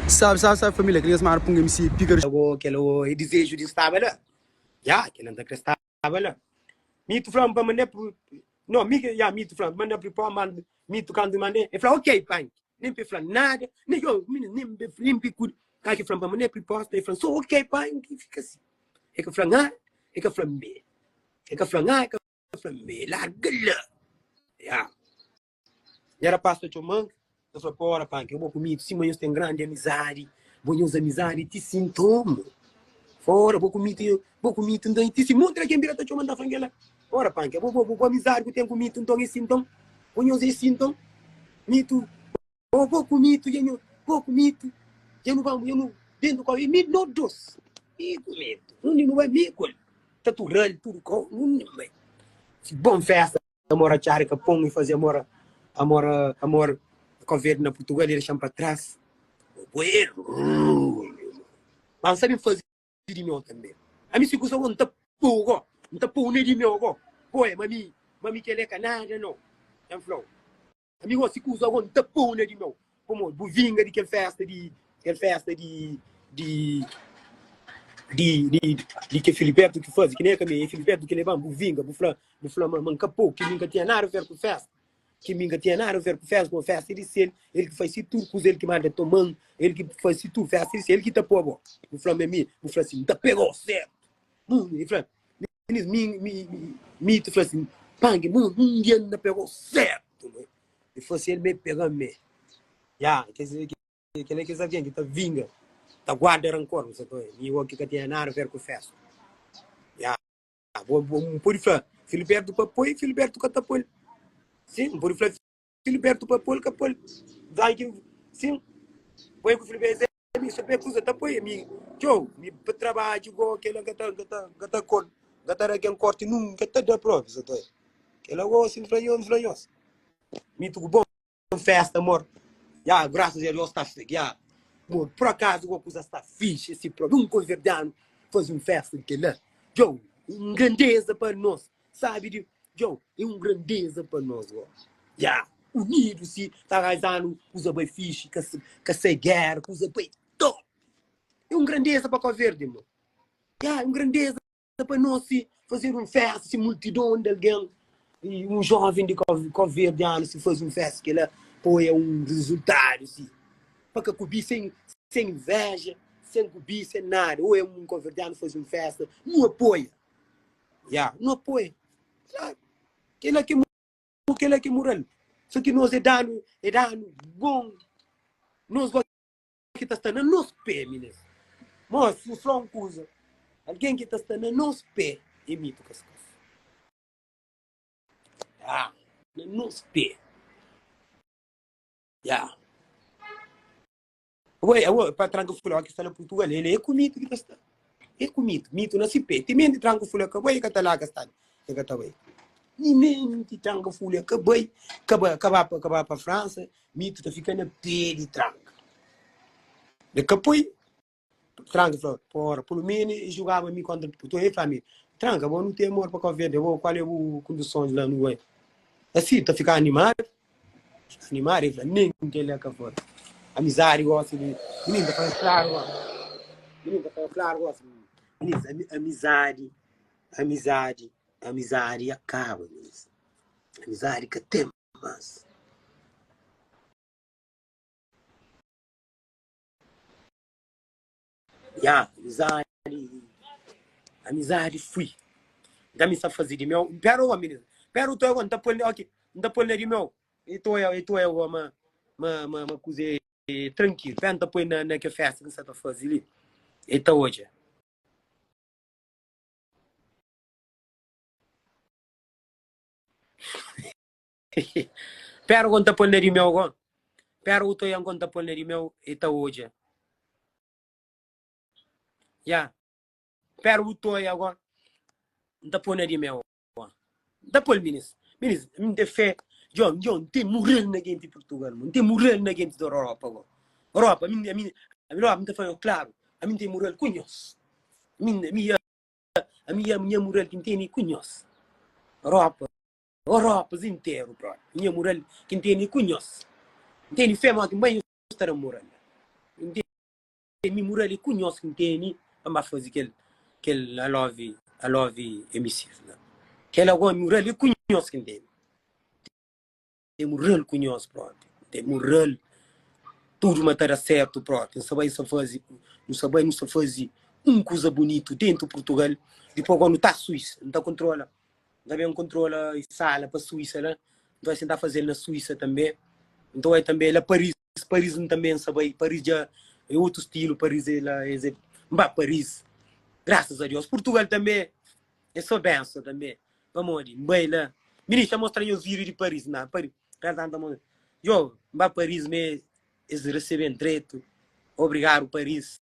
Sabe sabe sabe família kel nhas mara punga mc pika da. Ago kel ago é dizeju di nstaba la ya kel la nta kre staba la mitu flam pa mandé pu no mi ke ya mitu flam mandé pu pó mand mitu kandu mandé e fla ok panki nen pe fla nada ne yo mini nen be nen be kudi ka ke flam pa mandé priposta e fla so ok panki fika si e ka flam a e ka flam be e ka flam a e ka flam be larga la ya E rapaz ta txoman, ta fla pa, Ora, panka, é bo ku mi, ti sima nhos ten grandi amizadi, bo nha uza amizadi ti sintomu. Ora, bo ku mi, bo ku mi tinta, ti si montra ken bira ta txoman, ta fla kela, Ora, panka, bo, bo, bo amizadi ku ten ku mi tinton, é sinton, bo nha uza é sinton, mi tu, bo, bo ku mi, tu dja nhu, bo ku mi, tu dja nu ba, dja nu dentu kau, é mi, no dos, mi ku mi, tu, undi nu ba, mi ku el, ta turral tudu kau, undi nu bai, si bon festa. Amor a txada ka pon i faze amor Amor amor Covid na Purtugal i dexa-m pa tras Bueru Ma N sabe faze di meu tanbe Ami si kusa bo N ta pô-u go N ta pô-u na di meu go Pô-e ma mi ma mi kel-le ka nada no El fla-u. Mi gosi kuza agon ta puna di meu pamodi bu vinga di kel festa di kel festa di di di di di ke Filiberto ki fazi ki ne ka mi e Filiberto ki leban bu vinga bu fla bu fla ma ma n ka po ki mi n ka tinha nada a ver ku festa ki mi n ka tinha nada a ver ku festa pamodi festa é di sel el ki fasi tudu kuza el ki manda toman el ki fasi tudu festa é di sel el ki ta po bo bu fla ma mi bu fla si n ta pega-u sedu hum e fla. Elis mi ta fla si, pangi mô un dia na pegô sertu mô. E fla si el mê pegá mê. Ya, kel-la é kes algen ki ta vinga, ta guarda rankor, nu sa ta oja. Mi oki ka tinha nada ver ku festa. Ya, bo pode fla, Filibertu pa poi, Filibertu ka ta poi. Sin, bo pode fla. Filiberto pa pol ka pol dai ki sim poi ku Filiberto mi so pe kusa ta poi mi tchou mi pa trabaji go kela ga ta ga ta ga ta kol ga ta ragen korti nunka ta da probi so ta kela go sim fla nhos fla nhos mi tuku bon festa amor ya graças a Deus ta ya amor por acaso go kusa sta fixe si probi um converdiano fazi um festa kela tchou um grandeza pa nos sabi di Djau é un grandeza pa nos ó Ya unidu si ta raizanu kuza bai fixi ka ka sai guera kuza bai top É un grandeza pa Kóverde mo Ya é un grandeza pa nos si fazedu un festa si multidon di algen i un joven di kóverdianu si faze un festa kela poi é un rezultadu si pa ka kubi sen sen inveja sen kubi sen nada o é un kóverdianu faze un festa nu apoia Ya, nu apoia. Klaru. Kela ke mu, kela ke mural. So ki nos e danu, e danu bon. Nos bo ki ta sta na nos pé, minas. Mos, fu so un kuza. Algen ki ta sta na nos pé, e mitu ka skase. Ya, na nos pé. Ya. Ué, ué, pa tranca fula, ó, ki fala portugalês, ele é ku mitu ki ta sta. É ku mitu, mitu na si pé. Ti menti tranca fula ka bai, e ka ta la ka sta li, e ka ta bai. Ti menti tranca fula ka bai, ka ba, ka ba pa, ka ba pa Fransa, mitu ta fika na pé di tranca. Be ka poi, tranca fala, pa ora, pulu mene e jugaba mi kontra Portugal, e fla mi, tranca, bo nu ten amor pa Cabo Verde, bo, kual é bu kondisons la nu bai? Asi, ta fika animadu. Animadu, el fla, nen, kel-la ka foi amizadi gosi di mininu, ta fla-m klaru gosi, mininu ta fla-m klaru gosi, mininu fla, amizadi, amizadi, amizadi ya kaba, mininu, amizadi ka ten mas. Ya, amizadi, amizadi fui. Nta mi sta fazi di meu. Pera un momenti, pera un toia, nta pol, ok, nta pol na di meu. E toia, e toia agora, ma, ma, ma, ma kuze trankilu. Pera nta poi na ke festa ki N sa ta fazi li. E ta odja. Pera kon ta pol na di meu kon. Pera u toian kon ta pol na di meu e ta odja. Ya. Pera u toia kon n ta pol na di meu kon. N ta pol minis. Minis, mi te fé. Djon, djon, n te murel na genti Portugal mo. N te murel na genti dor Europa kon. Europa, mi, mi, mi, ami logu mi ta fala klaru. Ami n te murel ku nhos. Ami, ami, ami, ami nha murel ki n teni ku nhos. Europa. Oropas interu brother. Nha mural ki n teni ku nhos. N teni fé ma otin ba nhos sta na mural la. N teni mi mural li ku nhos ki n teni pa n ba fazi kel kel I love I love MCs la. Kel la gosi mural li ku nhos ki n teni. N teni mural ku nhos brother. N teni mural tudu ma ta da sertu brother. N sa bai n sa fazi nu sa bai nu sa fazi un kuza bunitu dentu Purtugal dipos gua nu ta Suísa nu ta kontrola Nta ben kontrola sala pa Suísa la. Nton es tenta faze-l na Suísa tanbe. Nton é tanbe la Paris. Paris N tanbe N sa bai. Paris dja é otu stilu. Paris é la es é. N ba Paris. Grasas a Deus. Purtugal tanbe é sô benson tanbe. Pamodi N bai la. Minist dja mostra nhos vídiu di Paris? Na, Paris. Grasas a Deus N ta mostra. Djobe, N ba Paris mê es resebe-m dretu. Obrigadu Paris.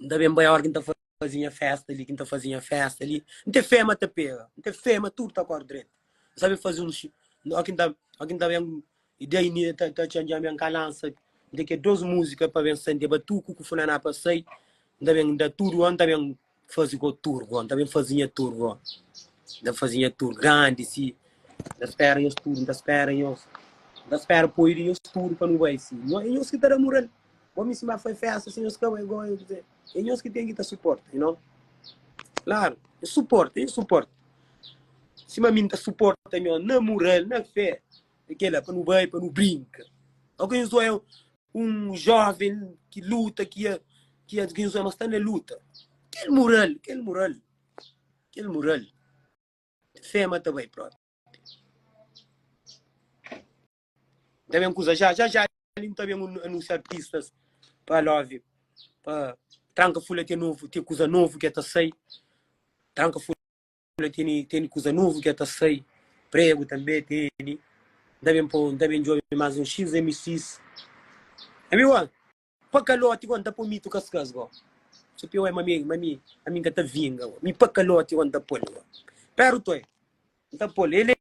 N ta ben bai ora ki N ta faze nha festa li, ki N ta faze nha festa li. N ten fé ma ta pega, N ten fé ma tudu ta kóre dretu. N sabe faze un xi. Ora ki N ta, ora ki N ta ben, i da Inês ta, ta txantxa mi, N ka lansa di ki dôs múzika pa ben sente, ba tuku ku funaná pa sai. N ta ben da tudu gó, N ta ben faze gó tur gó, N ta ben faze nha tur gó. N ta faze nha tur grandi si. N ta spera nhos tudu, N ta spera nhos. N ta spera poi di nhos tudu pa nu bai si. Nhos, é nhos ki ta da mural. Bo mi sima foi festa si nhos ka bai gó nhos kuzê? É nhos ki ten ki ta suporta you know. Klaru nhos suporta nhos suporta sima mi n'ta suporta nhos na mural na fé é kela pa nu bai pa nu brinka ok nhos oia un joven ki luta ki ia ki ia nhos oia ma sta na luta kel mural kel mural kel mural fé ma ta bai propi. N ta ben kuza já, já já li N ta ben anunsia artistas pa love pa tranka fula ten novo ten kuza novo ke ta sai tranka fula teni teni kuza novo ke ta sai prego tambe teni N ta ben po N ta ben djobe mas un x mxs ami wan pa kaloti wan N ta po mitu kaskas go so pior ma mi ma mi ami N ka ta vinga wan mi pa kaloti wan N ta pol wan pero toi N ta pol ele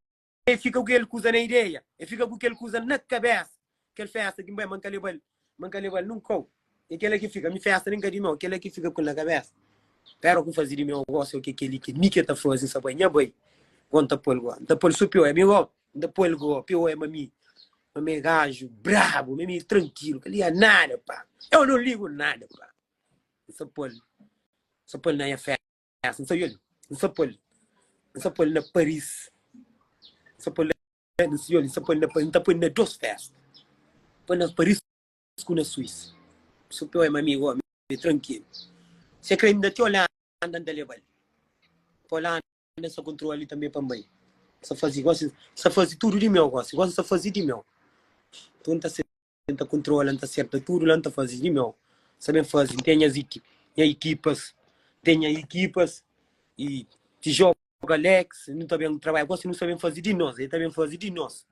E fika ku kel kuza na ideia, e fika ku kel kuza na kabesa. Kel festa ki, ben, ma N ka leba-l, ma N ka leba-l nunka, kau. É kel-la ki fika, mi festa nen ka di meu, kel-la ki fika ku-l na kabesa. Pero ku faze di meu gosi, o ke kel-li ki mi ke ta faze, N sa bai, nha bai, go N ta po-l go, N ta po-l so piou, é mi go, N ta po-l go, piou é ma mi, ma mi é gaju brabu, ma mi é trankilu, ka liga nada pa mi, eu não ligo nada pa mi, N sa po-l, sa po-l na nha festa. Ah, sa yol, sa pol, sa pol na Paris, sa pol na yol, sa pol na Paris, ta pol na dos festa, pol na Paris ku na Suíça. Su pé oi mami go, mi tranquilo. Se kre inda ti Holanda nta lebal. Pa Holanda sa kontrol ali tambe pa mbai. Sa fazi gosi, sa fazi tudo di meu gosi, gosi sa fazi di meu. Nton ta se N ta kontrola, N ta serta tudu la, N ta faze di meu Sa ben faze, N ten nhas nha ikipas Ten nha ikipas y ti joga Alex, nu ta ben trabadja Gosi nu sa ben faze di nos, e ta ben faze di nos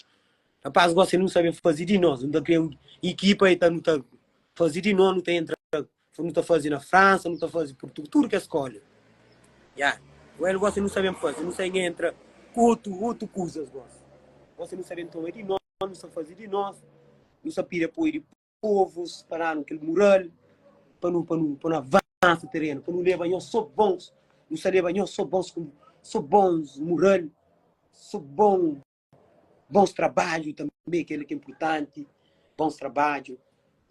Rapaz gosi nu sa ben faze di nos, nu ta kria un ikipa e ta nu ta faze di nos, nu ta entra Nu ta faze na Fransa, nu ta faze Purtu tudu kes skóla Ya, well gosi nu sa ben faze, nu sa inha entra ku otu otu kuzas gosi Gosi nu sa ben toma di nos, nu sa faze di novu, nu sa pidi apoiu di povus pa danu kel mural pa nu pa nu pa nu avansa terenu, pa nu leba nhos so bons, nu sa leba nhos so bons so bons mural, so bon bons trabadju tanbe kel li ki inpurtanti, bons trabadju,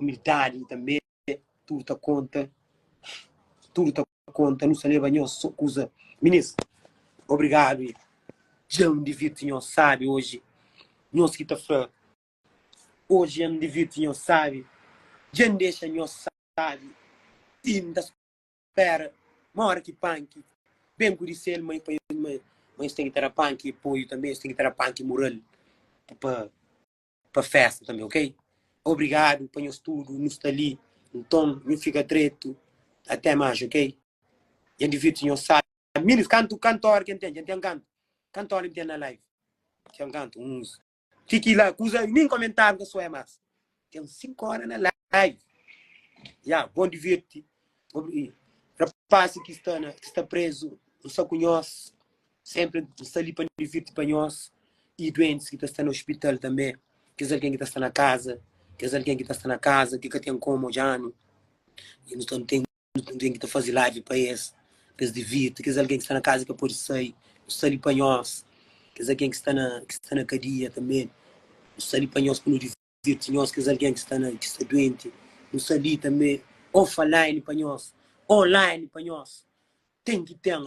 umildadi tanbe, tudu ta konta, tudu ta. konta nu sa leba nhos so kuza minis obrigadu e dja n divirti nhos sabi oji nhos ki ta fra oji dja n divirti nhos sabi dja n dexa nhos sabi ti n ta spera ma ora ki panki ben ku di sel ma e pa ma es ten ki ta da panki e poiu tanbe es ten ki ta da panki mural pa pa festa tanbe ok obrigado pa nhos tudo nos ta li nton nhu fica treto até mais ok dja divirti nhos sabe minus kantu kantor ke ntende ntem kantu kantor ntem na live ntem kantu uns fiki la kuza nin komentar nta soe mas tem 5 hora na live ya bom divirti rapaz ki sta na ki sta preso nsa ku nhos Senpri N sta li pa N divirti pa nhos i duentis ki ta sta na ospital tanbê, kes algen ki ta sta na kaza. Kes algen ki ta sta na kaza ki ka ten komu odja-nu, i nu ta nu ten nu ten ki ta faze live pa es, pa es divirti. Kes algen ki sta na kaza i ka pode sai, nu sta li pa nhos. Kes algen ki sta na ki sta na kadia tanbê, nu sta li pa nhos pa nu divirti nhos. Kes algen ki sta na ki sta duenti, nu sta li tanbê. Offline pa nhos, online pa nhos, ten ki ten.